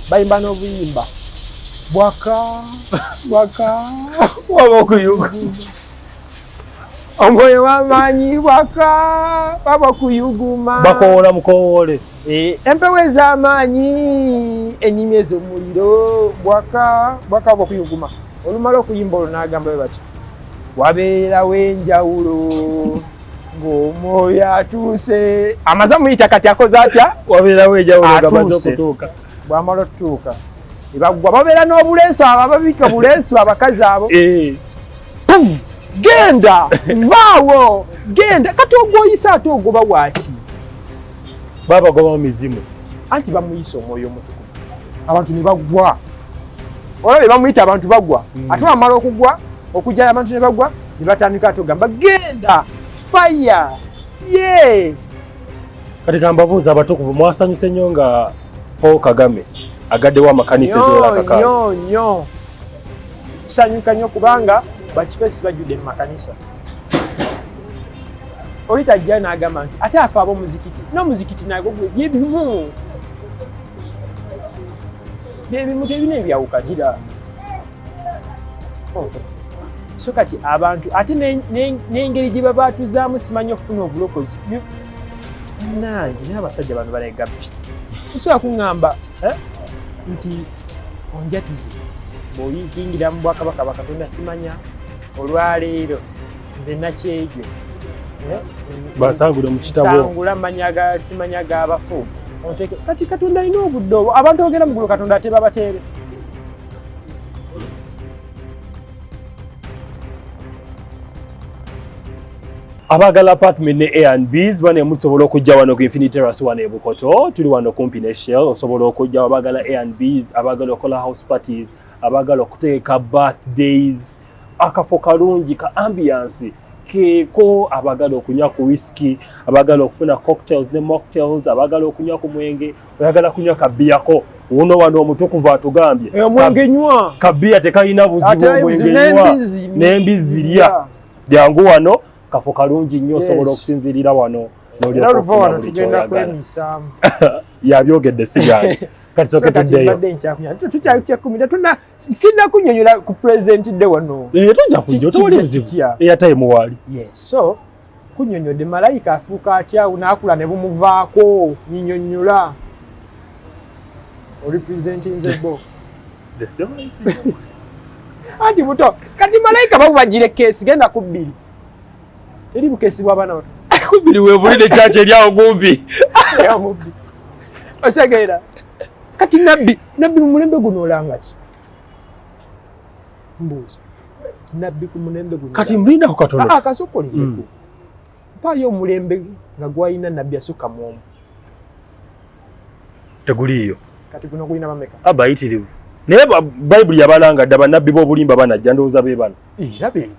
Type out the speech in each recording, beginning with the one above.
bayimba n'obuyimba bwaka bwaka waba okuyuga omwoyo w'amaanyi bwaka waba okuyuguma bakowoola mukowoole eh, empewo ez'amaanyi enyimi ez'omuliro bwaka bwaka waba okuyuguma olumala okuyimba olwo n'agamba bwe batyo wabeerawo enjawulo ng'omwoyo atuuse amaze amuyita kati akoze atya wabeerawo ejawuloamaze okutuuka bwamala otutuuka ebaggwa babeera n'obuleeso abo ababika buleeso abakazi abo eh. genda vaawo genda kati ogwoyisa ate ogoba waaki babagoba mu mizimu anti bamuyisa omwoyo omutuku abantu ne baggwa olaba be bamuyita abantu bagwa hmm. ate wamala okugwa okujjala abantu ne bagwa ne batandika atogamba genda fire ye kati kambabuuza abatukuvu mwasanyuse nnyo nga paul kagame agaddewo amakanisa eziwerakakao nyo kusanyuka nnyo kubanga bakifesi bajjudde mu makanisa oli tajja n'agamba nti ate afe ab'omuzikiti n'omuzikiti nago byebimu byebimu tebina ebyawukanira so kati abantu ate n'engeri gye babaatuzaamu simanyi okufuna obulokozi nange naye abasajja bano balegabbi osobola kuŋŋamba eh, nti onjatuze bw'oyingira mu bwakabaka bakatonda simanya olwaleero nze nakyejo eh, basangule mu kitabosangula manya simanya g'abafu kati katonda alina obudde obwo abantu ogenda mu gulu katonda atebabateere abagala apartment ne Airbnbs bane musobola okujja wano ku Infinity Terrace wano e Bukoto tuli wano kumpi ne Shell osobola okujja abagala Airbnbs abagala okola house parties abagala okuteeka birthdays akafo kalungi ka ambiance keeko abagala okunywa ku whisky abagala okufuna cocktails ne mocktails abagala okunywa ku mwenge oyagala kunywa kabiyako uno wano omutukuvu atugambye eh, omwenge nywa kabiya tekalina buzibu omwenge nywa n'embizzi lya jangu wano kafo kalungi nnyo osobola okusinzirira wano yabyogedde sigaani kati soke tuddeyo sinna kunyonyola ku pulezidenti de wano eh, tujja kujja otowali buzibu eyatayimuwaali kunyonyode malayika afuuka atya naakula ne bumuvaako nyinyonyola orepresentinze bo anti buto kati malayika babubagire keesi genda ku bbiri teri bukeesi bwabaana bato kubiri webulire kyakyo eryawo kumpi osegeera kati nabbi nabbi mumulembe guno olangaki mbuuza nabbi ku mulembe guno kati mlinda ku katono ah kasokole mm. ndeku mpayo omulembe nga gwalina nabbi asukka mu omu teguliiyo kati guno gulina bameka abayitirivu naye bayibuli yabalanga dda banabbi b'obulimba banajja ndowooza be bano era be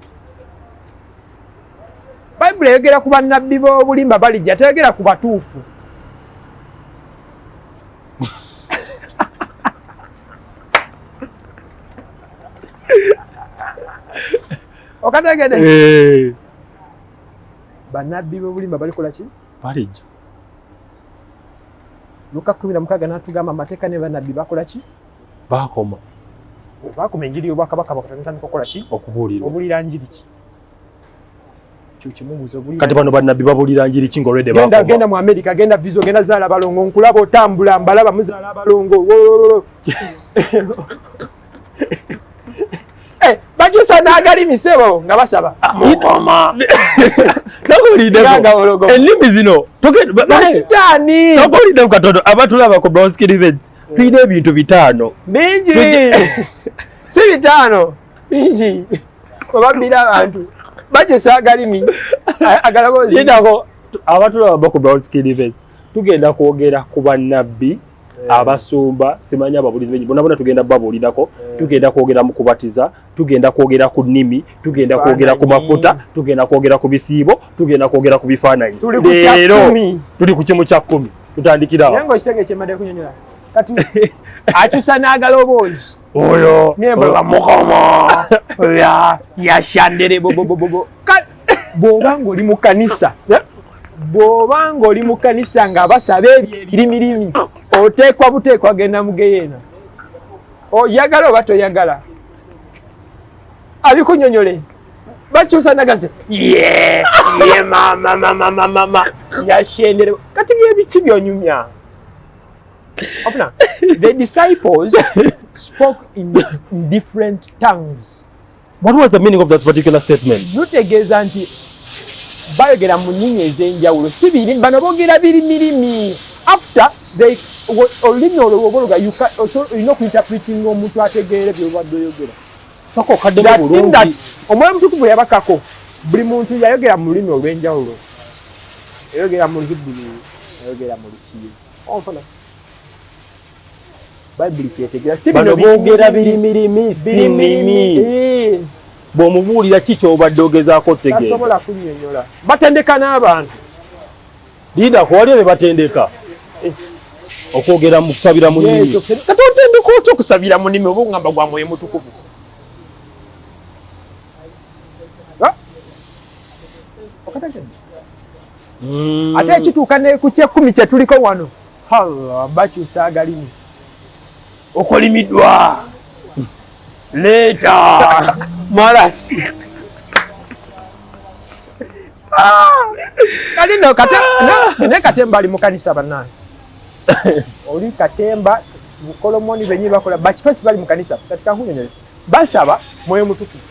bayibuli eyogera ku banabbi b'obulimba balijja teyogera ku batuufu okategede eh. banabbi bobulimba balikola ki balejja luka kumi na mukaaga natugamba amateeka ne banabbi bakola ki bakoma bakoma enjiri yobwakabaka bakatandika okukola ki okubuulira njiri ki kati bano banabbi babulira njiri ki ngaolwedde genda, genda mu amerika genda viso genda zaala balongo nkulaba otambula mbalaba muzaala balongo eh, bajusa nagalimi sebo nga basaba ennimi zino sitaani togolidemu katono abatulaba ku bronskilivens tulina ebintu bitaano bingi si bitaano bingi webabira abantu bajusa agalimi agalabozidako abatulaba baku brown skin events tugenda kwogera ku bannabbi Eh. abasumba simanyi ababulizi benyi bonabona tugenda babuulirako eh. tugenda kwogera mu kubatiza tugenda kwogera ku nnimi tugenda kwogera ku mafuta tugenda kwogera ku bisiibo tugenda kwogera ku bifaananyi leero tuli ku kimu kya kkumi tutandikirawo akyusa n'agaloboozi Oyo. Nye bwe bamukomo. Ya ya shandere bo bo bo bo. Bwoba ng'oli mu kanisa. Bwoba ng'oli mu kanisa nga basaba ebyo ebirimirimi oteekwa buteekwa genda mu geyeena. Oyagala oba toyagala. Abikunyonyole. Bakyusa nagaze. Ye ye mama mama mama mama. Ya shandere. Kati bye biki byonyumya. Ofuna, the disciples spoke in different tongues. What was the meaning of that particular statement? Lutegeeza nti bayogera mu nnimi ez'enjawulo si birimi bano boogera biri mirimi after they olulimi olwo woba oluga olina okuinterpretinga omuntu ategeere byobadde oyogera saka okaddemu bulungi omwoyo mutukuvu yabakako buli muntu yayogera mu lulimi olw'enjawulo yayogera mu lhibuli yayogera mu lukiye onfuna bayibuli kyetegera si bino boogera birimirimi sinimi eh. bw'omubuulira ki ky'obadde ogezaako otegeeasobola kunyonyola batendeka n'abantu liida kuwaliyo be batendeka eh. okwogera mu kusabira mu nimi kati otendeka otya okusabira mu nimi oba ogamba gwa mwoyo mutukuvu okatagenda mm. ate ekituuka ne ku kyekkumi kye tuliko wano allah bakyusa agalimu okolimiddwa leeta malasi kati no kate ne katemba ali mukanisa banange oli katemba mukolomoni benyi bakola bakifesi bali mukanisa kati kankunyonyole basaba mwoyo mutukuvu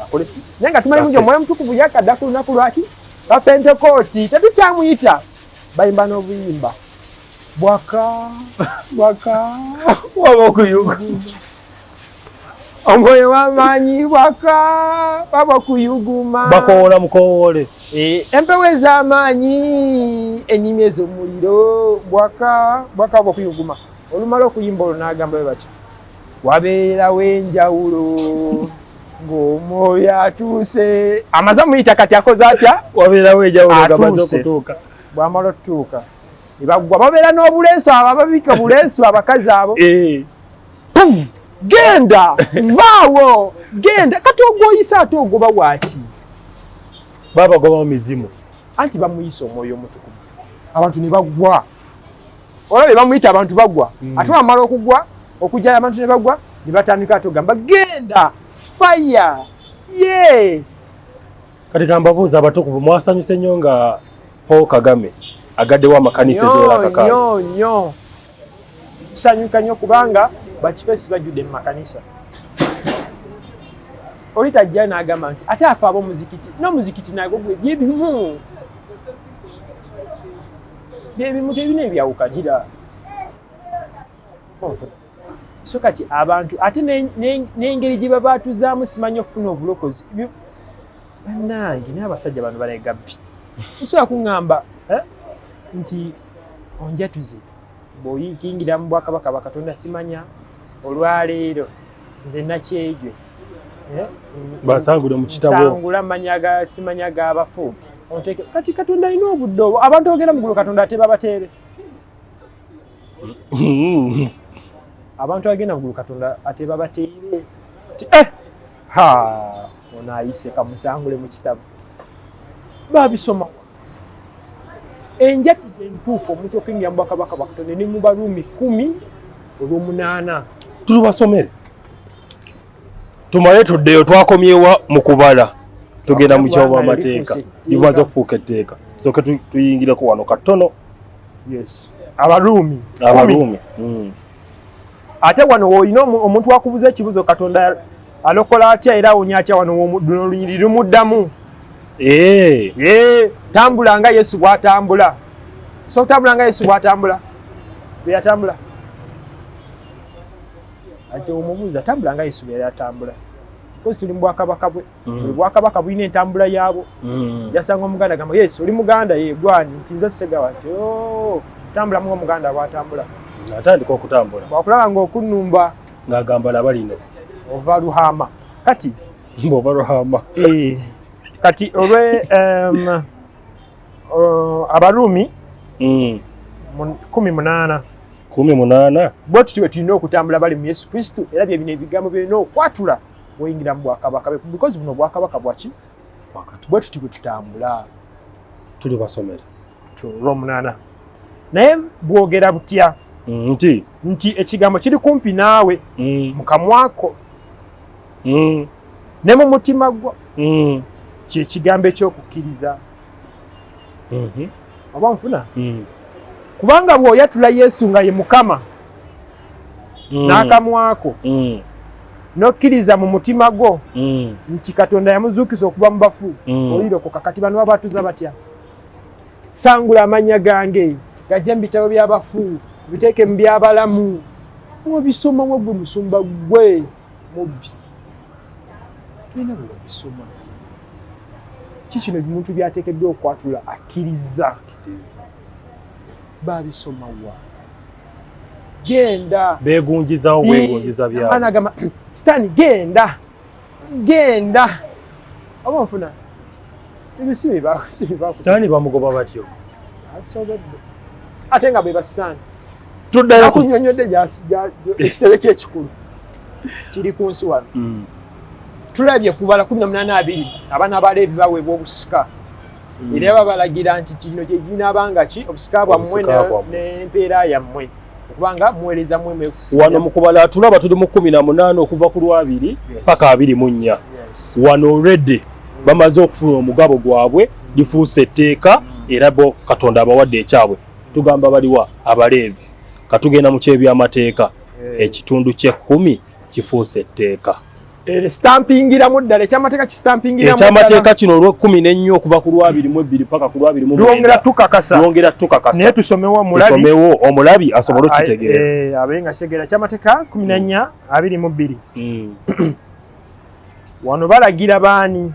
akole naye nga tumanyi bungi omwoyo mutukuvu yakadda ku lunaku lwaki Bapentekooti tetukyamuyita bayimba n'obuyimba bwaka bwaka waba okuyuga omwoyo w'amaanyi bwaka waba okuyuguma bakowoola mukowoole eh, empewo ez'amaanyi ennimi ez'omuliro bwaka bwaka waba okuyuguma olumala okuyimba olwo n'agamba bwe batyo wabeerawo enjawulo ng'omwoyo atuuse amaze muyita kati akoze atya wabeerawo ejawulogabaza okutuuka bwamala otutuuka ebaggwa babeera n'obuleesu abo ababika buleesu abakazi abo eh. genda vaawo genda kati ogwoyisa ate ogoba waaki babagobamu mizimu anti bamuyisa omwoyo omutukuvu abantu ne baggwa olabye bamuyita abantu bagwa mm. ate wamala okugwa okujjala abantu ne bagwa ne batandika ate ogamba genda faya ye kati kambabuuza abatukuvu mwasanyuse nnyo nga paul kagame agaddewo amakanisa eziwerakakaayo nyo tusanyuka nnyo kubanga bakifesi bajjudde mu makanisa oli tajja n'agamba nti ate afa ab'omuzikiti n'omuzikiti nagwo gwe byebimu byebimu tebina ebyawukanira so kati abantu ate n'engeri gye baba atuzaamu simanyi okufuna obulokozi bannange naye abasajja bano balegabbi osobola kuŋŋamba eh, nti onjatuze bw'oyingira mu bwakabaka bakatonda simanya olwaleero nze nakyejwe eh? basangule mu kitabo sangula manya ga simanya ga bafu onteke kati katonda alina obudde obwo abantu bagenda mugulu katonda ate babateere abantu bagenda mugulu katonda ate babateere eh! ono ayise kamusangule mu kitabu babisoma enjatuza entuufu omuntu okengira mubakabaka bakatonda ne mu baruumi kumi olwomunaana tulubasomere tumale tuddeyo twakomyewa mu kubala tugenda mu kyoba amateeka limaze okufuuka etteeka soke tuyingireko wano katono abaruumi abaruumi hmm. ate wano olina omuntu akubuza ekibuzo katonda alokola atya era awonya atya wano lunyiri lumuddamu eh. eh, tambula nga yesu bwatambula so kutambula nga yesu bwatambula beyatambula ati omubuuza tambula nga yesu beyatambula kozi tuli mu bwakabaka bwe mm. buli bwakabaka bulina entambula yaabwo mm. yasanga omuganda gamba yes oli muganda ye gwani nti nze segawa nti oh, tambula mu omuganda bwatambula atandika okutambula bwakulaba nga okunnumba ng'agamba laba lino ova luhama kati mboba ruhama eh, kati olwe um, uh, abaruumi mm. kumi munaana kumi munaana bwe tutyo bwe tulina okutambula bali mu yesu kristo era byebino ebigambo byolina okwatula bwoyingira mu bwakabaka because buno bwakabaka bwaki bwe tuti bwe tutambula tuli basomera olwomunaana naye bwogera butya mm, nti nti ekigambo kiri kumpi naawe mm. mu kamwako mm. ne mu mutima gwo kyekigambo ekyokukkiriza mm-hmm. oba nfuna kubanga bw'oyatula yesu nga ye mukama mm. n'akamwako mm. n'okkiriza mu mutima gwo mm. nti katonda yamuzuukiza okuba mu bafu mm. olirokoka kati bano babatuza batya sangula amannya gange gajja mu bitabo by'abafu biteeke mu by'abalamu obisomamu gwe musumba gwe mubbi genda bwe babisoma ki kino ebimuntu byateekeddwa okwatula akkiriza baabisoma wa genda begunjizawo bwegunjiza byaanagamba sitaani genda genda oba nfuna ebisibibasitaani bamugoba batyo ate nga bwe basitaani tuddayokunyonyodde ekitebe kyekikulu kiri ku nsi wano mm. tulabye kubala kumi na munaana abiri abaana baleevi baweebwa obusika hmm. era babalagira nti kino kyekinaaba nga ki obusika bwammwe n'empeera yammwe okubanga muweereza mwe wano mukubala tulaba tuli mu kumi na munaana okuva ku lwabiri paka abiri mu nnya wano olredde hmm. bamaze okufuna omugabo gwabwe lifuuse etteeka hmm. era bo katonda abawadde ekyabwe tugamba baliwa abaleevi katugenda mu kyebyamateeka ekitundu kyekkumi kifuuse etteeka Eh, stampingiramu ddala ekyamateeka kistampingiramuekyamateeka kino olwekumi nenyo okuva ku lwabiri mu ebbiri paka ku lwabiri muongera tukakasayongera tukakasa naye tusomewo omulabisomewo omulabi asobole okitegeera eh, abe nga kitegeera ekyamateeka kumi nanya mm. abiri mu bbiri mm. wano balagira baani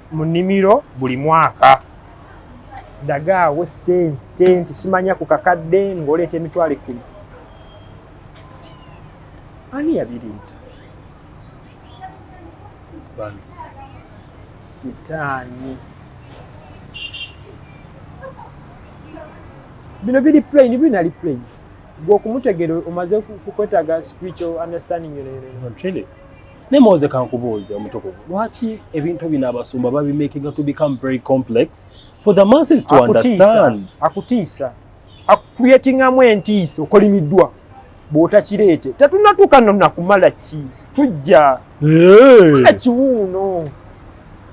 mu nnimiro buli mwaka dagaawo sente nti simanya ku kakadde ng'oleeta emitwalo ekkumi ani yabiriita bano sitaani bino biri plain binali plain gwe okumutegere omaze kukwetaga spiritual understanding yonayonayona naye moze kankubuuze omutukuvu lwaki ebintu bino abasumba babimakinga to become very complex for the masses to understand akutiisa akuyetingamu entiisa okolimiddwa bwotakireete tetunatuuka nonakumala ki tujja kiwuuno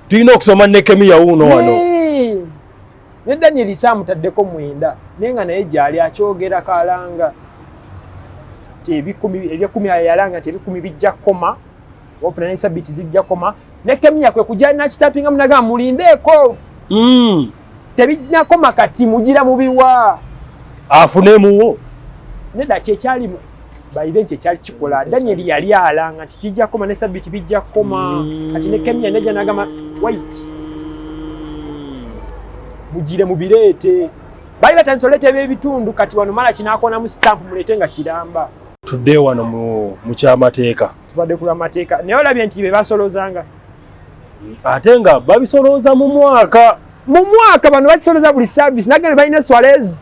tulina okusoma nekemiya wuuno wano ne danyeri kyamutaddeko mwenda naye nga naye gyali akyogera kalanga nti ebyekumi yalanga nti ebikumi bijja kukoma ofuna nesabiti zijja kukoma ne kemiya kwe kujja nakitapinga munaga mulindeeko mm. tebinakoma kati mugira mubiwa afunemuwo neda kyekyalimu bayire nti ekyali kikola daniel yali alanga nti kijja kukoma ne sabiti bijja kukoma kati ne kemia neja nagamba wait mugire mubireete bali batandisa oleeta ebyebitundu kati wano mala kinakonamu stamp muleete nga kiramba tudde wano mu kyamateeka tubadde ku lwamateeka naye olabye nti be basolozanga ate nga babisolooza mu mwaka mu mwaka bano bakisoloza buli service nagene balina swalezi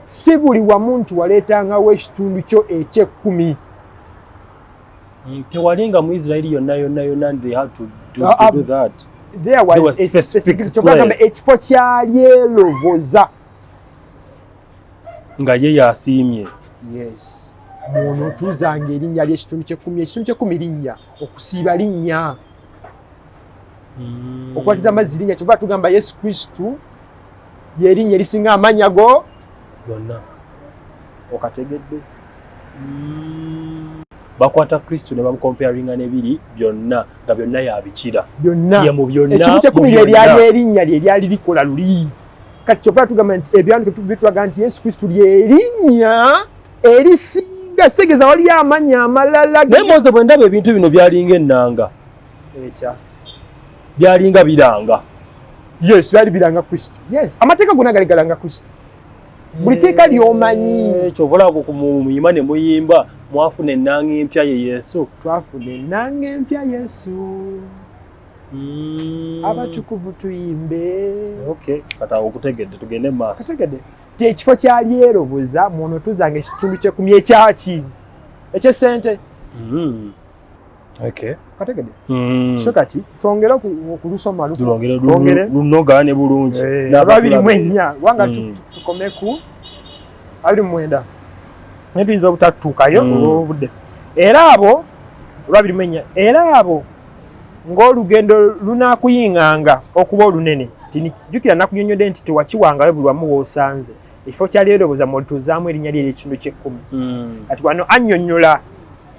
si buli wamu nti waleetangawo ekitundu kyo ekyekkumi tewalinga mu israeli yonna yonna yonna ntheyhatodothatokyogamba ekifo kyalyeloboza nga ye yasiimye yes muno tuzanga erinnya lyekitundu kyekkumi ekitundu kyekkumi linnya okusiiba linnya hmm. okwatiza amazzi linnya kyova tugamba yesu kristu lyerinnya erisinga amannya go gonna okategedde mm. bakwata kristo ne bamukomparinga nebiri byonna nga byonna yabikira byonnaekimu kyekumi lyeryali erinnya lye lyali likola luli kati kyova tugamba nti ebyanduke bitulaga nti yesu kristo lyerinnya erisinga kitegeeza waliyo amannya amalala naye moze bwendaba ebintu bino byalinga ennanga byalinga biranga yes byali biranga kristo yes amateeka gona gali galanga kristo buli eh, teeka lyomanyi ekyo obulabo kumuyima ne muyimba mwafuna ennanga empya ye yesu twafuna ennanga empya yesu mm. abatukuvu tuyimbe okay kata okutegedde tugende maaso tegedde ti ekifo kyalyeroboza mwono tuzanga ekitundu kyekumya ekyaki ekyesente mm. kategede mm. so kati twongere okulusoma lunoga ne bulungi eh, ababirimu ennya wanga mm. tukomeku abiri mwenda naye tuyinza obutattuukayo mm. olwobudde era abo olwabirimu ennya era abo ng'olugendo lunakuyinganga okuba olunene tijukira nakunyonyode nti tewakiwangayo buli wamu woosanze ekifo kyali eroboza mwolituuzaamu erinnya lye ery'ekitundu ky'ekkumi kati wano annyonnyola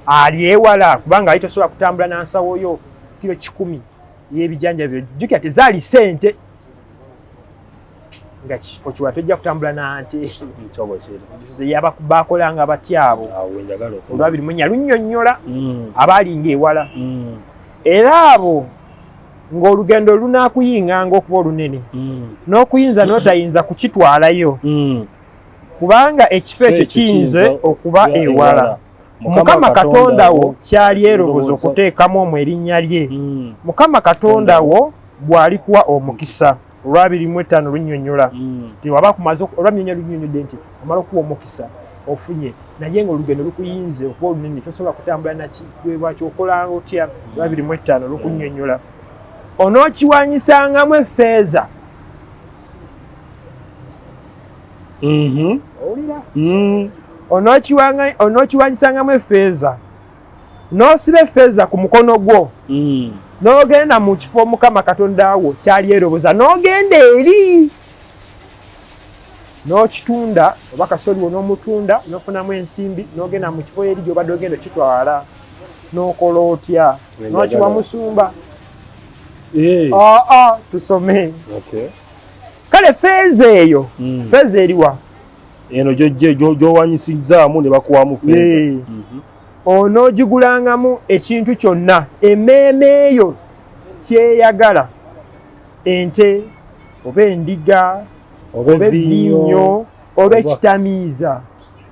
ali ewala kubanga ali tosobola kutambula na nsawo yo kiro kikumi yebijanjabyo jjukira tezaali sente nga kifo kiwa tojja kutambula na nte yabakolanga batya abo olwabiri munya lunyonyola mm. abaalinga ewala mm. era abo ng'olugendo lunaakuyinganga okuba olunene mm. n'okuyinza n'otayinza kukitwalayo kubanga ekifo ekyo kiyinza okuba ewala mukama katonda wo kyali eroboza okuteekamu omu erinnya lye hmm. mukama katonda wo bw'alikuwa omukisa olwabiri mu ettaano lunyonyola hmm. tiwaba kumaze olwamyonya lunyonyodde nti omala okuwa omukisa ofunye naye nga olugendo lukuyinze okuba olunene tosobola kutambula nakiweebwaki okola otya olwabiri mu ettaano lukunyonyola onookiwanyisangamu efeeza mhm. mm. onokiwanyisangamu efeeza n'osiba efeeza ku mukono gwo mm. n'ogenda mu kifo mukama katonda wo kyali eroboza n'ogenda eri n'okitunda oba kasoliwo n'omutunda n'ofunamu ensimbi n'ogenda mu kifo eri gyobadde ogenda okitwala n'okola otya n'okiwa musumba aa eh. ah, ah, tusome kale feeza eyo mm. feeza eriwa eno gyowanyisizzaamu ne bakuwamu feeza mhm. onoogigulangamu ekintu kyonna emmeeme eyo kyeyagala ente oba endiga oba ebiinyo oba ekitamiiza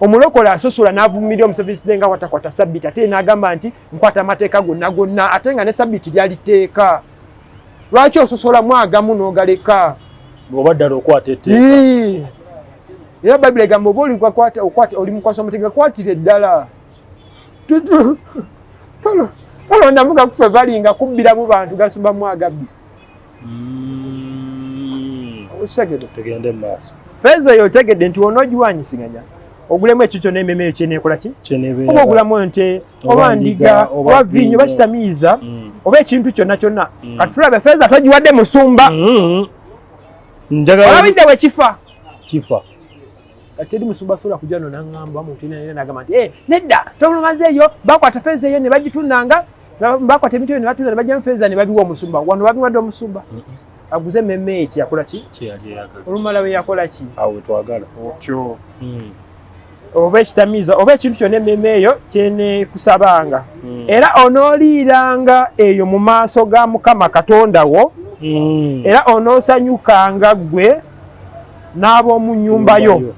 omulokole asosola n'avumirira omuseveni nga watakwata sabbiti ate n'agamba nti nkwata amateeka gonna gonna ate nga ne sabbiti lyali teeka lwaki ososolamu agamu n'ogaleka oba ddala okwata etteeka era bayibuli egamba oba oli mukwasa omuteeka kwatire ddala tolondamu gakufe balinga kubbiramu bantu gasumbamu agabbi mm. okitegede tugende maaso feeza eyo otegedde nti wona ogiwanyisiganya ogulemu ekikyo n'ememe eyo kyeneekola ki oba ogulamu ente oba ndiga oba viinyo oba kitamiiza mm. oba ekintu kyonna kyonna mm. kati tulabe feeza togiwadde musumba mm-hmm. olabidde bwe kifa kifa kati teri musumba sobola kujja no nangamba mutinanira nagamba nti eh, nedda tobulumaze eyo bakwata feeza eyo ne bagitunanga bakwata ebintu ebyo ne batunda ne bajjamu feeza ne babiwa omusumba wano babiwadde omusumba aguze meme eki yakola ki olumala we yakola ki otyo hmm. oba ekitamiiza oba ekintu kyona ememe eyo kyenekusabanga hmm. era onooliiranga eyo mu maaso ga mukama katonda wo hmm. era onoosanyukanga ggwe n'ab'omu nnyumba yo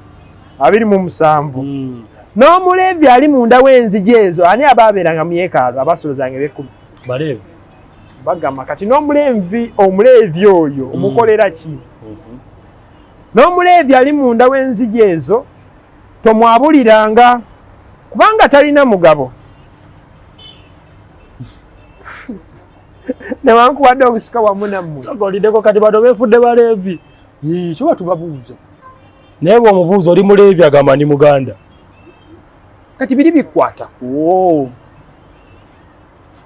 abiri mu musanvu hmm. n'omuleevi ali munda w'enzigi ezo ani aba abeeranga mu yeekaalu abasuuluzanga eby'ekkumi baleevi bagamba kati n'omuleevi omuleevi oyo hmm. omukolera ki hmm. n'omuleevi ali munda w'enzigi ezo tomwabuliranga kubanga talina mugabo newankubadde obusika wamu nammwe ogolideko kati bano befudde baleevi kiba tubabuuza naye bwe omubuuza oli muleevi agamba ndi muganda kati biri bikwata kuwo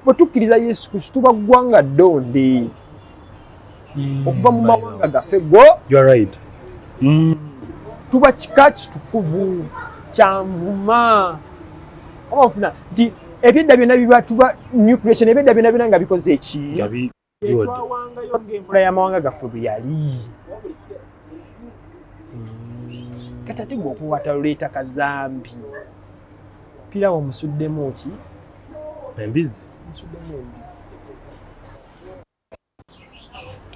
bwe tukkiriza yesu kristu tuba ggwanga ddonde mm. okuva mu mawanga gaffe go right. mm. tuba kika kitukuvu kyanvuma oba ofuna nti ebyedda byonna biba tuba new creation ebyedda byonna byona nga bikoze eki etwawangayo ngaenkola yamawanga gaffe bwe yali mm. kati ate gwe okuwata luleeta kazambi pirawo musuddemu ki embizi musuddemu embizi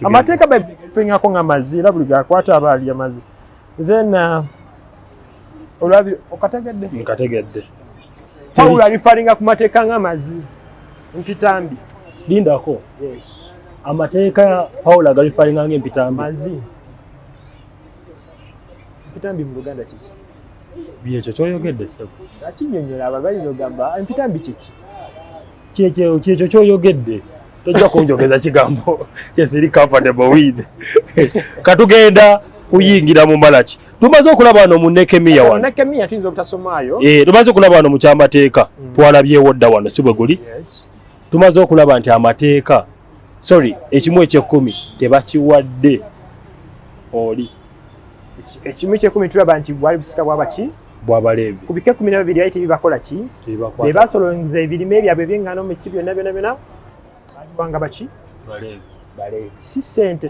amateeka bafingako nga mazi era buli gakwata aba alya mazi then uh, olabi okategedde nkategedde pawulo alifalinga ku mateeka nga mazi mpitambi lindako yes amateeka pawulo agalifalinga nga empitambi mazi mpitambi mu luganda kiki byekyo kyoyogedde sebo akinyonyola ababayizi ogamba empitambi kiki kyekyo kyekyo kyoyogedde tojja kunjogeza kigambo kyesiri comfortable with katugenda kuyingira mu malaki tumaze okulaba wano mu nekemiya wano nekemiya tuyinza obutasomaayo eh tumaze okulaba wano mu kyamateeka mm. twalabyewo dda wano si bwe guli tumaze okulaba nti amateeka sorry ekimu ekyekkumi tebakiwadde oli ekimu ekyekkumi tulaba nti bwali busika bwabaki bw'Abaleevi. Ku bika ekkumi na babiri baali tebibakola ki? Be baasolonza ebirime byabwe eby'eŋŋaano mu ki byonna byonna byonna baaliwanga baki? Baleevi. Baleevi si ssente.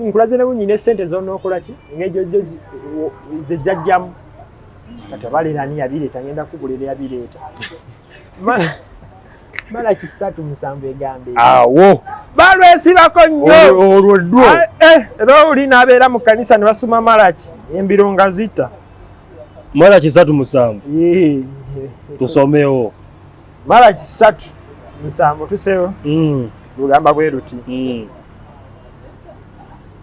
Nkulaze ne bunnyina essente z'onookola ki? Engeri gyojjo ze zajjamu. Kati abaleera ani yabireeta? Ngenda kukubulira yabireeta. mala kisatu musanvu egambe awo balwesibako nnyo olwo ddwo ah, eh, era oli n'abeera mu kanisa ne basoma malaki embiro nga zita mara kisatu musanvu tusomewo mara kisatu musanvu tusewo mm. lugamba bwe luti mm.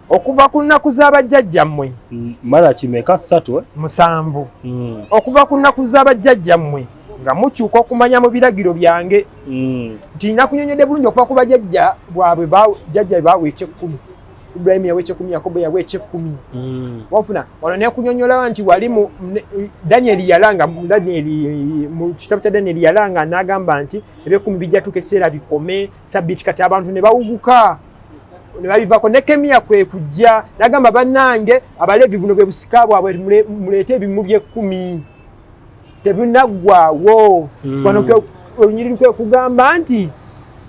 okuva ku nnaku z'abajjajjammwe mm, mara kimeka satu eh? musanvu mm. okuva ku nnaku z'abajjajjammwe nga mukyuka okumanya mu biragiro byange mm. nti nakunyonyode bulungi okuva ku bajajja bwabwe jajja baawe ekyekkumi Ibrahim yawa ekyekumi, Yakobo yawa ekyekumi. Mm. Wafuna wano nekunyonyola nti wali mu Daniel yalanga Daniel mu kitabu kya Daniel yalanga n'agamba nti ebyekumi bijja tuuka ekiseera bikome sabiti kati abantu ne bawuguka ne babivako Nekemiya kwe kujja n'agamba bannange Abaleevi buno bwe busika bwabwe muleete ebimu by'ekkumi. tebinaggwawo hmm. wano olunyiriri kwe kugamba nti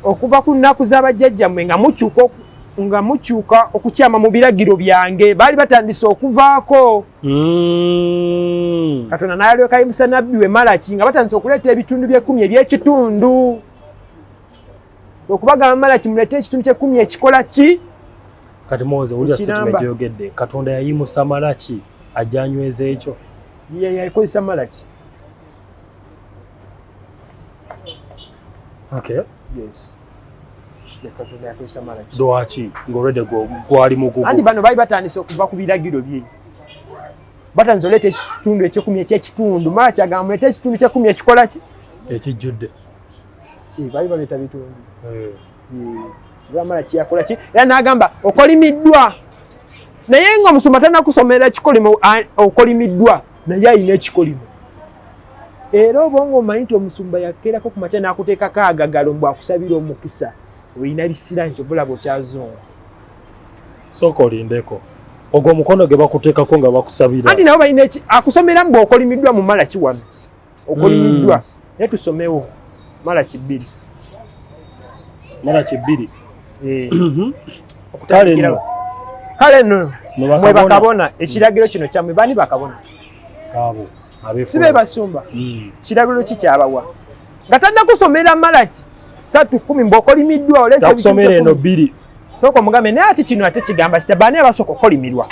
okuva ku nnaku z'abajjajjammwe nga mukyuka nga mukyuka okukyama mu biragiro byange baali batandise okuvaako hmm. katonda nayalwekayimusa nabbi we malaki nga batandise okuleeta ebitundu by'ekkumi eby'ekitundu okubagamba malaki mulete ekitundu kyekumi ekikola ki kati muwoze wulira situma gyoyogedde katonda yayimusa malaki ajanyweza ekyo yakozesa malaki okay yes lwaki ngaolwedde gwali muguguanti bano bali batandise okuva ku biragiro bye batandise oleeta ekitundu ekyekumi ekyekitundu mala kyagamba muleta ekitundu kyekumi ekikola ki ekijjudde eh, bali baleeta bitundu eh. bamala kiyakola ki era n'agamba okolimiddwa naye nga omusumba tanakusomera kikolimo okolimiddwa naye alina ekikolimo era obonga omanyi nti omusumba yakeerako ku makya n'akuteekako agagalo mbu akusabira omukisa olina bisira nti obulaba okyazunga sooka olindeko ogwo omukono gwe bakuteekako nga bakusabira anti nabo balina akusomera mbu okolimiddwa mu mala kiwano okolimiddwa mm. naye tusomewo mala kibbiri mala kibbiri eh. mhm. kale no kale no mwe bakabona ekiragiro kino kyamwe bani bakabona abo sibe basumba mm. kiragiro ki kyabawa nga tannakusomera malaki satu kumi mbokolimiddwa olesomera eno bbiri sooka omugambe naye ati kino ate kigamba kita baani abasooka okukolimirwa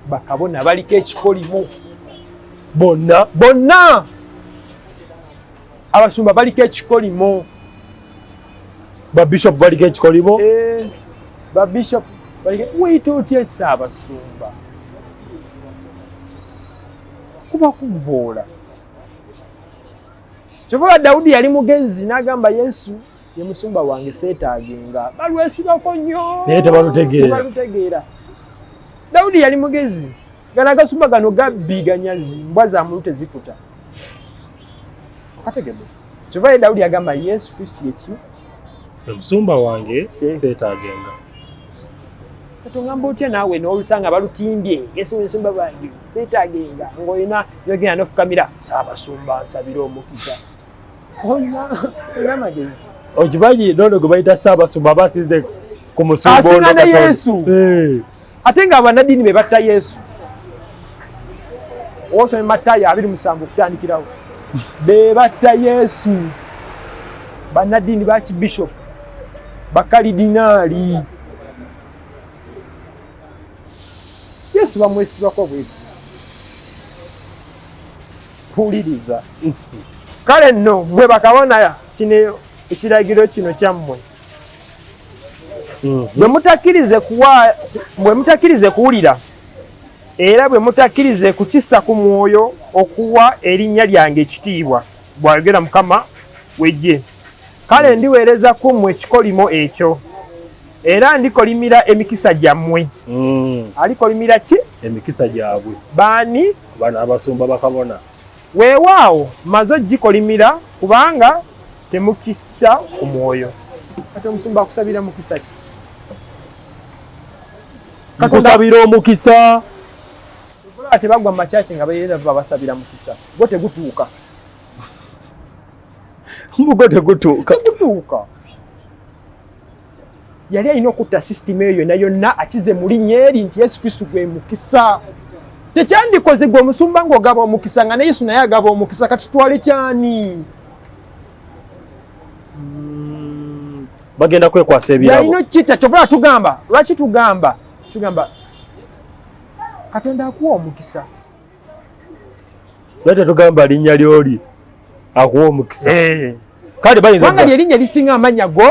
bakabona baliko ekikolimo bonna bonna abasumba baliko ekikolimo babishop baliko ekikolimo eh, babishop weyita otya esa abasumba kuba kuvoola kyovola dawudi yali mugezi n'agamba yesu ye musumba wange seetaagenga balwesibako nnyo naye tebalutegeera dawudi yali mugezi gana agasumba gano gabbi ganyazi mbwa za muntu tezikuta okategede kyova ye dawudi agamba yesu kristu yeki omusumba wange seetaagenga katongamba otya naawe n'olusanga balutimbye yesu omusumba wange seetaagenga ng'olina yogenda nofukamira saabasumba nsabire omukisa okimanyi nono gwe bayita ssaabasumba aba asinze ku musumbasinga ne yesu eh. ate nga abanadini be batta yesu osome matayo abiri musanvu okutandikirawo be batta yesu banadini bakibishop bakalidinaali yesu bamwesibako bwesi puliriza kale nno mwe bakabona kino ekiragiro kino kyammwe mhm. bwe mutakkirize kuwulira era bwe mutakkirize kukisa ku mwoyo okuwa erinnya lyange ekitiibwa bwayogera mukama wejje kale ndiweereza ku mmwe ekikolimo ekyo era ndikolimira emikisa gyammwe mm. alikolimira ki emikisa gyabwe baani bano abasumba bakabona weewaawo maze ogikolimira kubanga temukisa ku mwoyo kati omusumba akusabira mukisa ki kakusabira omukisa tebagwa mu makyaki nga beera babasabira mukisa gwo tegutuuka mbugo tegutuuka tegutuuka yali alina okutta sisitimu eyo yonna yonna akize mu linnya eri nti yesu kristo gwe mukisa tekyandikoze gwe omusumba ng'ogaba omukisa nga ne yesu naye agaba omukisa kati twale kyani hmm, bagenda kwekwasa ebirayalina okukita kyova tugamba lwaki tugamba tugamba katonda akuwa omukisa naye tetugamba linnya lyoli akuwa omukisa eh. kale bayinzanga lyerinnya lisinga amannya go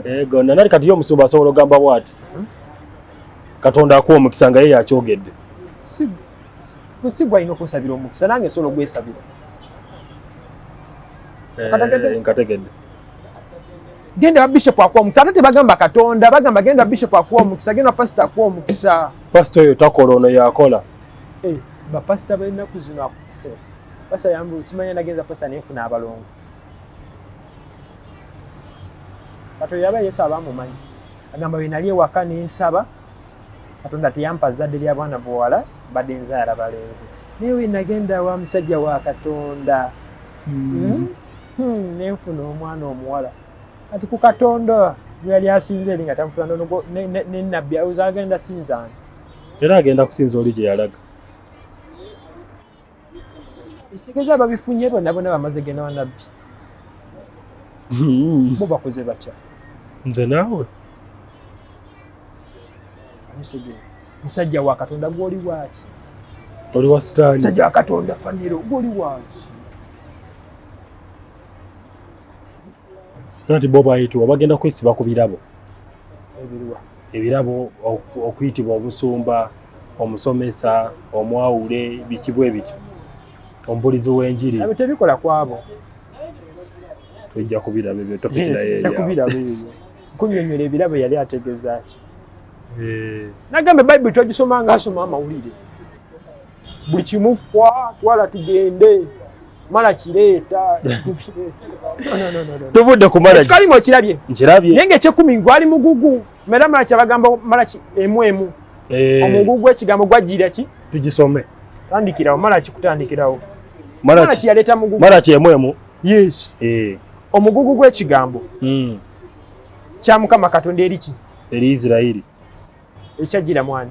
ego eh, nanali kati yo omusumba asobola ogamba bwati katonda akuwa omukisa nga ye yakyogedde sigwalina okwesabira omukisa nange nsobola ogwesabira eh, nkategedde genda wa bishop akuwa omukisa ate tebagamba katonda bagamba genda wa bishop akuwa omukisa genda wa pasita akuwa omukisa Pastor oyo takola ono yakola. Eh, ba pastor ba ennaku zino pastor yambu simanya nagenza pastor ne funa abalongo. Kato yaba Yesu abamu manyi. Agamba we naliye wakani nsaba. Kato ndati yampa zadde lya bwana bwala badenza yara balenzi. Niwe nagenda wa msajja wa katonda. Mm. Mm. Hmm, ne funa omwana omuwala. kati ku katonda gweyali asinza eri nga tamufula nonogo nenabbi ayoza agenda sinzani era agenda kusinza oli gye yalaga esigeza babifunye bona bona bamaze genda wanabbi hmm. bo bakoze batya nze naawe amusege musajja wa katonda gwoli waaki oli wa sitaani musajja wa katonda faniro gwoli waaki nti bo bayitibwa bagenda kwesiba ku birabo ebirabo okuyitibwa obusumba omusomesa omwawule bikibwa ebityo omubulizi w'enjiri tebikola kwabo tujja kubiraba ebyo topiki naye kunyonyola ebirabo yali ategezaaki eh. nagamba bayibuli twagisoma ngaasoma amawulire buli kimu fwa twala tugende mala kireeta tubudde kumalakikalimu okirabye nkirabye naye ngaekyekumi gwali mugugu mera mala kyabagamba mala emu emu eh. omugugu ekigambo gwajjira ki tugisome tandikirawo mala kikutandikirawo mala kiyaleeta mugugu mala kyemu emu yes eh. omugugu gw'ekigambo hmm. kya mukama katonda eri ki eri isirairi ekyajjira mwani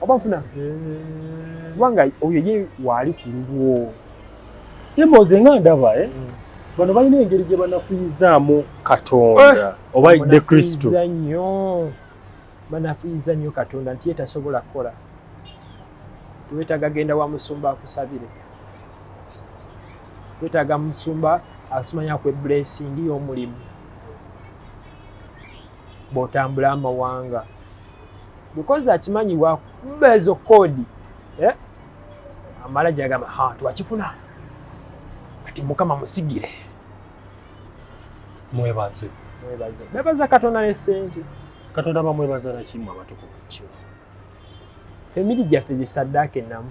oba nfuna kubanga oyo ye waali ku lulwo emboozi nga ndaba eh? mm. bano balina engeri gye banafuyizaamu katonda eh! oba de kristo nnyo banafuyiza nnyo katonda nti ye tasobola kukola wetaaga genda wa musumba akusabire wetaaga musumba asimanya kwe blessing y'omulimu bwotambula amawanga because akimanyi wakuba ezo kodi eh? amala jagamba ha twakifuna kati mukama musigire mwebaze mwebaze bebaza katonda ne sente katonda bamwebaza nakimu abatukuvu kyo famili gyaffe zisaddaaka ennamu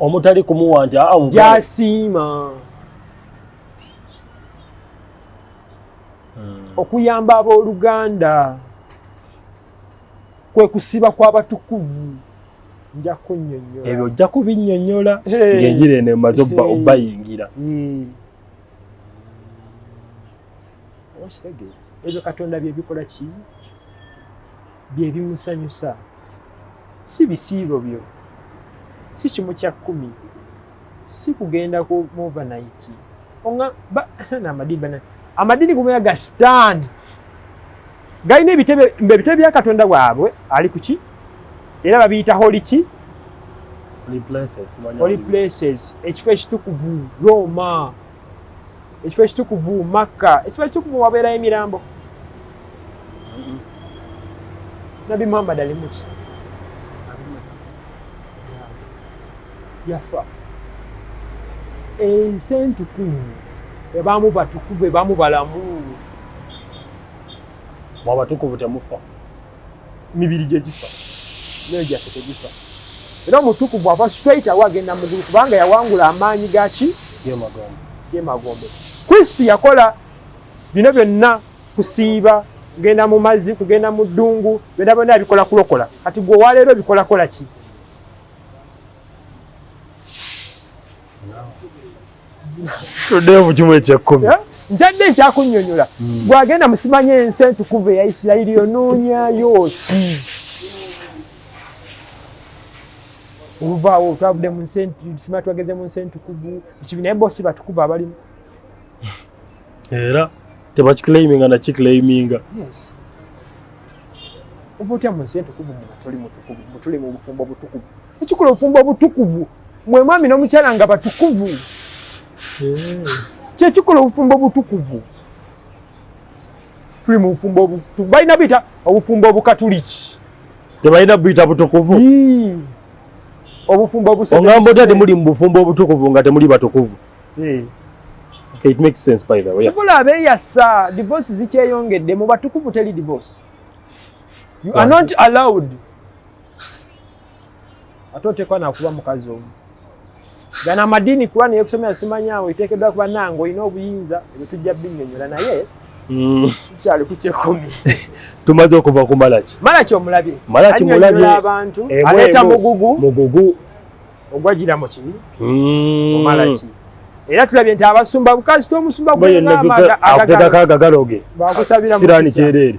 omutali kumuwa nti ah, gyasiima hmm. okuyamba abooluganda kwe kusiba kw'abatukuvu nja kunyonyola ebyo ojja kubinyonyola ng'enjira eno emaze obbayingira hmm. ebyo katonda bye bikola ki bye bimusanyusa si bisiibo byo si kimu kya kkumi si kugenda ku overnight onga namadini bana amadini gumea ga sitaani galina ebitebe mbe ebitebe bya katonda bwabwe ali kuki era babiyita holi ki holi places ekifo ekitukuvu roma ekifo ekitukuvu makka ekifo ekitukuvu wabeerayo emirambo nabi muhammad alimuki yafa ensi entukuvu ebamu batukuvu ebamu balamu mwabatukuvu temufa mibiri gye gifa myoyo gyaffe tegifa era omutukuvu ava straight awo agenda mugulu kubanga yawangula amaanyi gaki gemagombe kristo yakola bino byonna kusiiba kugenda mu mazzi kugenda mu ddungu byonna byonna yabikola kulokola kati gwe owaleero obikolakola ki tuddeyo mu kimu ekyekkumi ntadde nkyakunyonyola gwagenda hmm. musimanya ensi entukuvu eya isirayiri onoonyayo ki oluvaawo twavudde mu nsi sima twageze mu nsi entukuvu ekibi naye bosi batukuvu abalimu era tebakiclaiminga nakiclaiminga oba otya mu nsi entukuvu mubatoli mutukuvu mutuli mu bufumbo butukuvu ekikola obufumbo obutukuvu mwe mwami n'omukyala nga batukuvu eh. kyekikola obufumbo obutukuvu tuli mu bufumbo obutukuvu balina buyita obufumbo obukatuliki tebalina buyita butukuvu obufumbo obuongambo otya temuli mu bufumbo obutukuvu nga temuli batukuvu eh. it makes sense by the way tubula abeyasa divorce zikyeyongedde mu batukuvu teli divorce you are not allowed ate oteekwa nakuba mukazi omu gana amadiini kuba naye kusomera simanyawo iteekeddwa kuba nange olina obuyinza ebyo tujja binyonyola naye mm. tukyali ku kyekumi tumaze okuva ku malaki malaki omulabye malaki mulabye abantu aleeta mugugu mugugu ogwagira mu kibi mm. omalaki era tulabye nti abasumba bukazita omusumba gwenamaga agagalo ge bakusabira mu sirani kyereere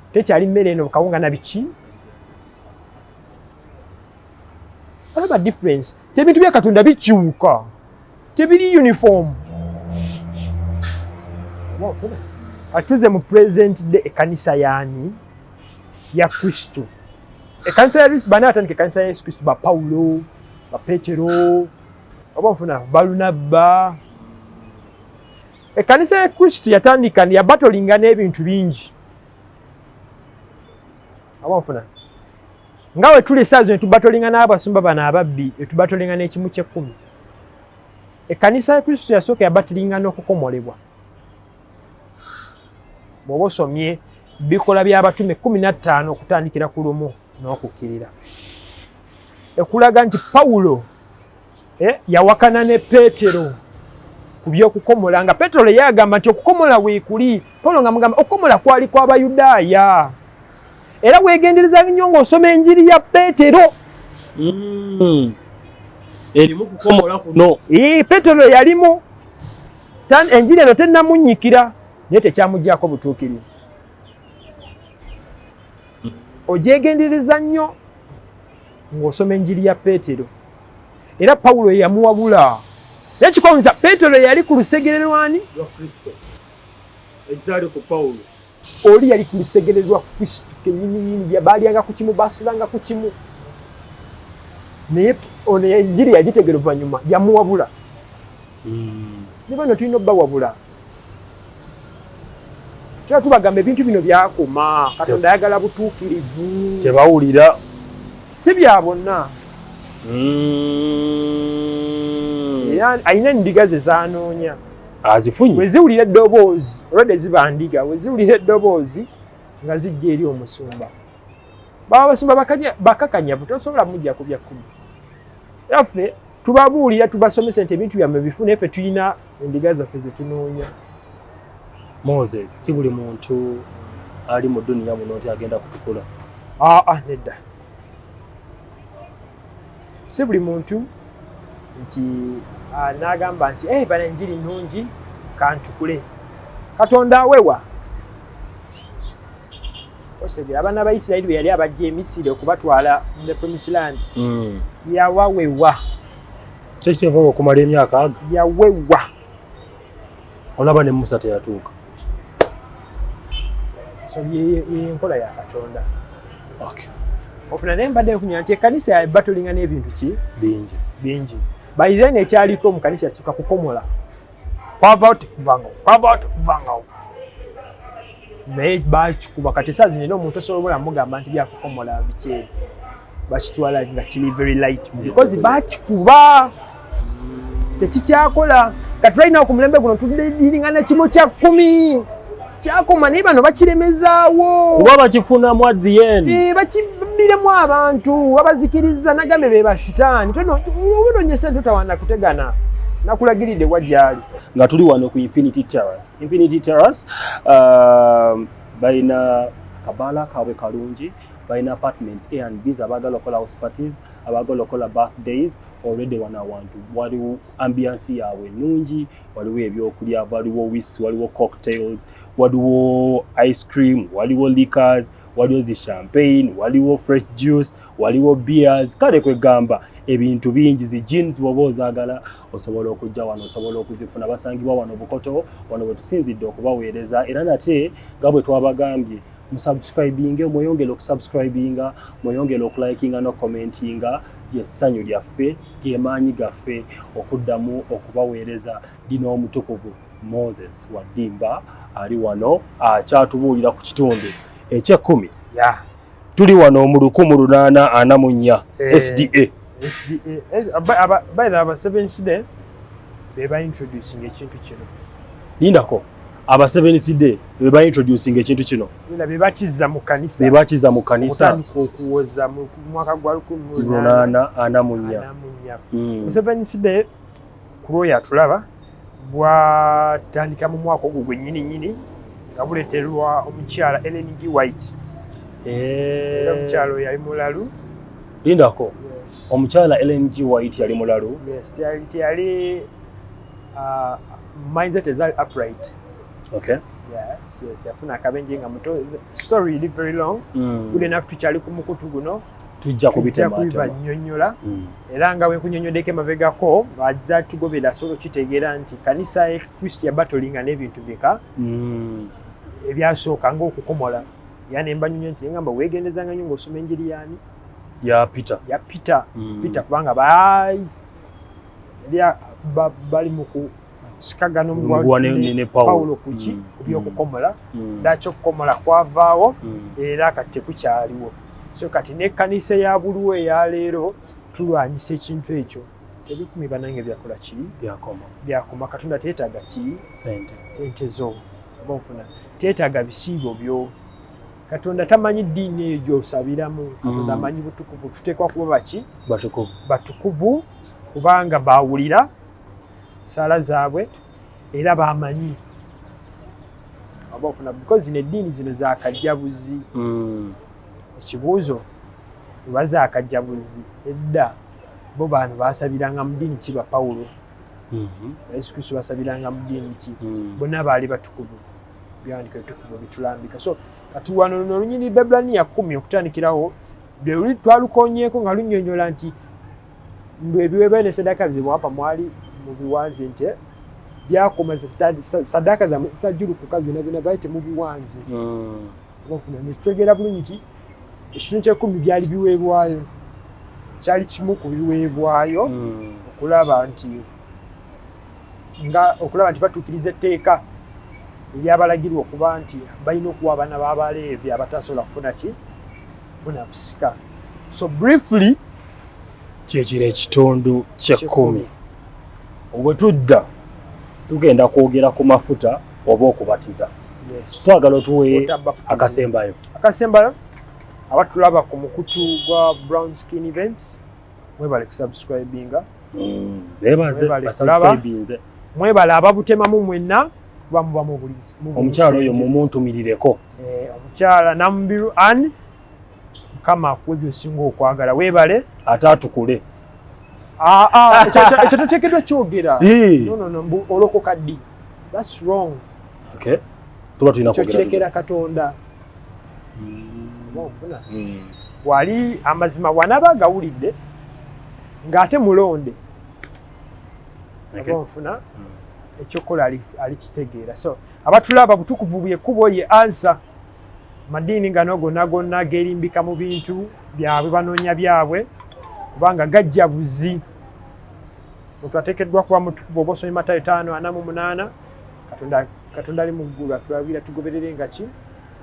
Tekyali mmere eno kawunga na biki? Olaba difference. Tebintu bya Katonda bikyuka. Tebiri uniform. Atuze mu present day ekanisa yani ya Kristo. Ekanisa ya Yesu bana atandika ekanisa ya Yesu Kristo ba Paulo, ba Petero, oba mfuna Barnaba. Ekanisa ya Kristo yatandika ya battling n'ebintu bingi. awanfuna nga we tuli esaawa zino tubatolinga n'abasumba bano ababbi etubatolinga n'ekimu ky'ekkumi ekkanisa ya kristo yasooka yabatilinga n'okukomolebwa bw'oba osomye bikola by'abatume kumi na ttaano okutandikira ku lumu n'okukkirira ekulaga nti pawulo eh, yawakana ne petero ku by'okukomola nga petero ye agamba nti okukomola weekuli polo nga mugamba okukomola kwali kw'abayudaaya era weegendereza nnyo ng'osoma enjiri ya petero hmm. erimu kukomola kuno eh, petero yalimu enjiri eno tennamunnyikira naye tekyamugyako butuukirivu ogyegendereza nnyo ng'osoma enjiri ya peetero era pawulo eyamuwabula naye kikonza peetero yali ku lusegere lwani lwa kristo ekyali ku pawulo oli yali ku lusegere lwa kristo kenyiniyini baalyanga ku kimu baasulanga ku kimu naye ono enjiri yagitegera oluvannyuma yamuwabula hmm. ne bano tulina obbawabula Tuba tubagamba ebintu bino byakoma, Katonda ayagala butuukirivu. Tebawulira. Si bya bonna. Mm. Era alina endiga ze zanoonya. Azifunye. Bwe ziwulira eddoboozi, olwedde ziba ndiga, bwe ziwulira eddoboozi nga zijja eri omusumba. Baba basumba bakakanyavu, tosobola mujja ku bya kkumi. Era ffe tubabuulira tubasomesa nti ebintu byammwe bifu naye ffe tulina endiga zaffe ze tunoonya moses si buli muntu ali mu duniya muno nti agenda kutukula aa ah, ah, nedda si buli muntu nti ah, nagamba nti eh, bana enjiri nungi kantukule katonda awewa osegera abaana ba isirayiri beyali abajja emisiri okubatwala the promise land hmm. yawawewa kyekikyeva okumala emyaka aga yawewa olaba ne musa teyatuuka so yenkola ya katonda ofuna naye mbadde nkunya nti ekanisa yabatulinga n'ebintu ki bingi bingi by then ekyaliko mu kanisa yasooka kukomola kwava oti kuvanga kwava oti kuvanga naye bakikuba kati esaa zino era omuntu osobola obula mugamba nti byakukomola bikyeri bakitwala nga kiri very light because bakikuba tekikyakola kati right now ku mulembe guno tudiringana kimu kya kumi kyakoma naye bano bakiremezaawo kuba bakifunamu at the end eh, bakibbiremu abantu babazikiriza nagambe be basitaani tobinonye sente totawana kutegana nakulagiridde wa gyali nga tuli wano ku infinity terrace infinity terrace uh, balina kabala kaabwe kalungi balina apartments a and bs abaagala okukola house parties abaagala okukola birthdays already wano awantu waliwo ambiansi yaabwe nungi waliwo ebyokulya waliwo wis waliwo cocktails waliwo ice cream waliwo liquors waliwo zi champagne waliwo fresh juice waliwo beers kale kwegamba ebintu bingi zi jeans bwoba ozagala osobola okujja wano osobola okuzifuna basangibwa wano bukoto wano bwetusinzidde okubaweereza era nate nga bwe twabagambye musubscribinge mweyongere okusubscribinga mweyongere okulikinga no commentinga lyessanyu lyaffe gemaanyi gaffe okuddamu okubaweereza dina omutukuvu moses waddimba ali wano akyatubuulira ku kitundu ekyekkumi tuli wano mu lukumu lunaana ana mu nnya eh, sda sda abasevensi de bebaintroducing ekintu kino lindako aba Seventh Day be ba introducing ekintu kino na be bakiza mu kanisa be bakiza mu kanisa okutandika okuwoza mu mwaka gwa 1844 mm. Seventh Day kuloya tulaba bwatandika mu mwaka ogwo gwennyini nnyini nga buleeterwa omukyala Ellen G. White eh. omukyala oyo yali mulalu lindako omukyala Ellen G. White yali mulalu teyali Uh, mindset is upright. Okay. Yeah, siyafuna akabenje nga muto story is very long mm. good enough tukyali ku mukutu guno tujja kubibanyonyola mm. era nga wenkunyonyodeko emabegako aza tugobera asobola okukitegeera nti kanisa ya kristo yabatolinga n'ebintu bika mm. ebyasooka ngaokukomola era nembanyonyo nti ngamba wegendezanga nyo ngaosoma enjiri yani ya peter ya peter mm. peter kubanga lya bali mu kusikagana omuguwa ne pawulo kuki mm. ku byokukomola mm. mm. lwaki okukomola kwavaawo era kati tekukyaliwo so kati n'ekkanisa ya buliwo eya leero tulwanyisa ekintu ekyo tebikumi banange byakola ki byakoma katonda teetaaga ki sente zo oba ofuna teetaaga bisiibo byo katonda tamanyi ddiini eyo gyosabiramu katonda mm. amanyi butukuvu tuteekwa kuba baki batukuvu kubanga bawulira sala zaabwe era bamanyi abafuna because zino eddiini zino zakajjabuzi mm. ekibuuzo oba zakajjabuzi edda bo bantu basabiranga mu ddiini ki bapawulo mm-hmm. yesu kristo basabiranga mu ddiini ki mm. bonna baali batukuvu byandika ebitukuvu bitulambika so kati wano luno olunyiriri bebraniya kumi okutandikirawo lweluli twalukonyeeko nga lunyonyola nti mbu ebiweebwayo ne sadaaka zebwapa mwali mu biwanzi nti byakoma sadaaka zamwe zitajulukuka byona byona byali temubiwanzi hmm. obafuna nekitegeera bulungi nti ekitundu kyekumi byali biweebwayo kyali kimu ku biweebwayo hmm. okulaba nti nga okulaba nti batuukiriza etteeka eryabalagirwa okuba nti balina okuwa abaana b'abaleevi abatasobola kufuna ki kufuna busika so briefly kyekiro ekitundu kyekkumi obwe tudda tugenda kwogera ku mafuta oba okubatiza twagala otuwe akasembayo akasembayo abatulaba ku mukutu gwa brown skin events mwebale kusubscribinga mm, mwebale ababutemamu mwenna omukyala oyo mumuntumirireko eh, omukyala namubiru an mukama akuwe byosinga okwagala webale ate atukule ah, ah, ekyo totekedwa kyogera olokoka ddi thats wrong tuba tulina kyokirekera katonda hmm. wali amazima wanaba agawulidde ng'ate mulonde nfuna hmm. ekyokukola alikitegeera so abatulaba butukuvu bwekubo ye ansa madiini ngano gonna gonna gerimbika mu bintu byabwe banoonya byabwe kubanga gajja buzi omuntu ateekeddwa kuba mutukuvu oba osoma emata etaano ana mu munaana katonda katonda ali mu ggulu atulagira tugoberere nga ki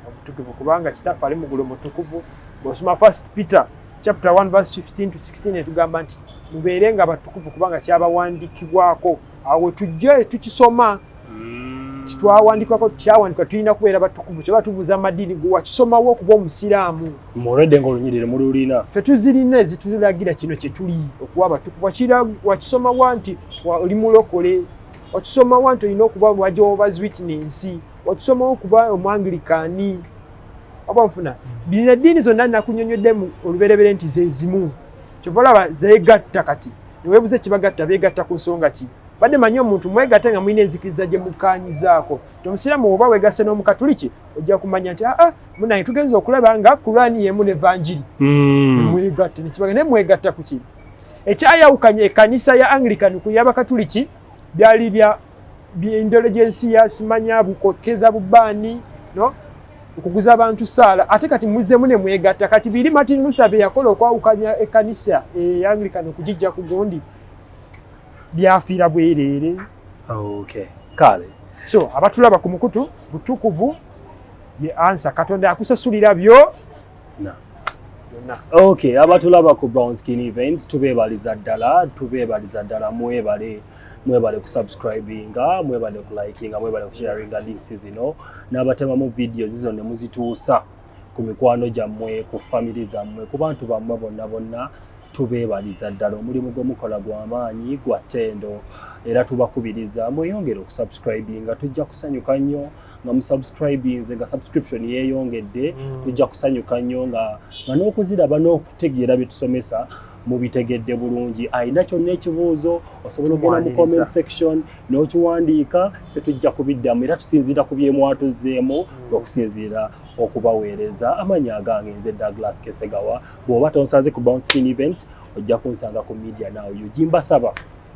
omutukuvu kubanga kitaffe ali mu ggulu mutukuvu bwosoma first peter chapter 1 verse 15 to 16 etugamba nti mubeere nga batukuvu kubanga kyabawandiikibwako awo tujje tukisoma mm. titwawandikako kyawandika tulina kubeera batukuvu kyoba tubuuza amadiini gwe wakisomawo okuba omusiraamu muredde nga olunyirire mululina fe tuzirina ezitulagira kino kyetuli okuba abatukuvu wakisomawa nti oli mulokole wakisoma wa nti olina okuba wa jehovah's witness wakisomawo okuba omwangirikaani oba nfuna bino eddiini zonna nakunyonyoddemu oluberebere nti zezimu kyova olaba zegatta kati newebuza ekibagatta begatta ku nsonga ki badde manyi omuntu mwegatte nga mulina enzikiriza gye mukanyizaako ti omusiraamu woba wegasse n'omukatuliki ojja kumanya nti aa ah, ah, munaye tugenza okulaba nga kuraani yemu nevanjiri mm. mwegatte nekibaga naye mwegatta ku kino ekyayawukanya ekanisa ya anglican ku yabakatuliki byali bya byendole gyensi yasimanya bukokeza bubaani no okuguza abantu saala ate kati muzemu ne mwegatta kati biri martin luther beyakola okwawukanya ekanisa eyanglikan okugijja ku gundi byafiira bwereere okay. kale so abatulaba ku mukutu butukuvu ye ansa katonda akusasulira byo Okay, abatulaba ku Brown Skin Events tubeebaliza ddala, tubeebaliza ddala mwebale mwebale kusubscribinga, mwebale kulikinga, mwebale kusharinga links zino n'abatemamu video zizo ne muzituusa ku mikwano gyammwe, ku family zammwe, ku bantu bammwe bonna bonna tubeebaliza ddala omulimu gwe mukola gwa maanyi gwa ttendo era tubakubiriza mweyongere okusubscribinga tujja kusanyuka nnyo. nga musubscribinze nga subscription yeyongedde mm. tujja kusanyuka nnyo nga nga n'okuziraba n'okutegeera bye tusomesa mubitegedde bulungi alina kyonna ekibuuzo osobola okugenda mu comment section n'okiwandiika tetujja kubiddamu era tusinziira ku byemwatuzzeemu mm. okusinziira okubaweereza amanyi agange nze douglas kesegawa bw'oba tonsanze ku bounce skin events ojja kunsanga ku media now ug mbasaba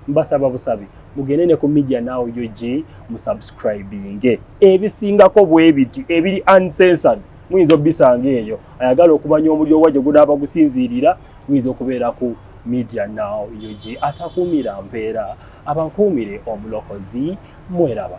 mbasaba busabi mugende ne ku media now ug musubscribinge ebisingako bwebiti ebiri uncensored muyinza obisanga eyo ayagala okumanya omuliro wa gye gunaaba gusinziirira muyinza okubeera ku media now ug atakuumira mpeera abankuumire omulokozi mweraba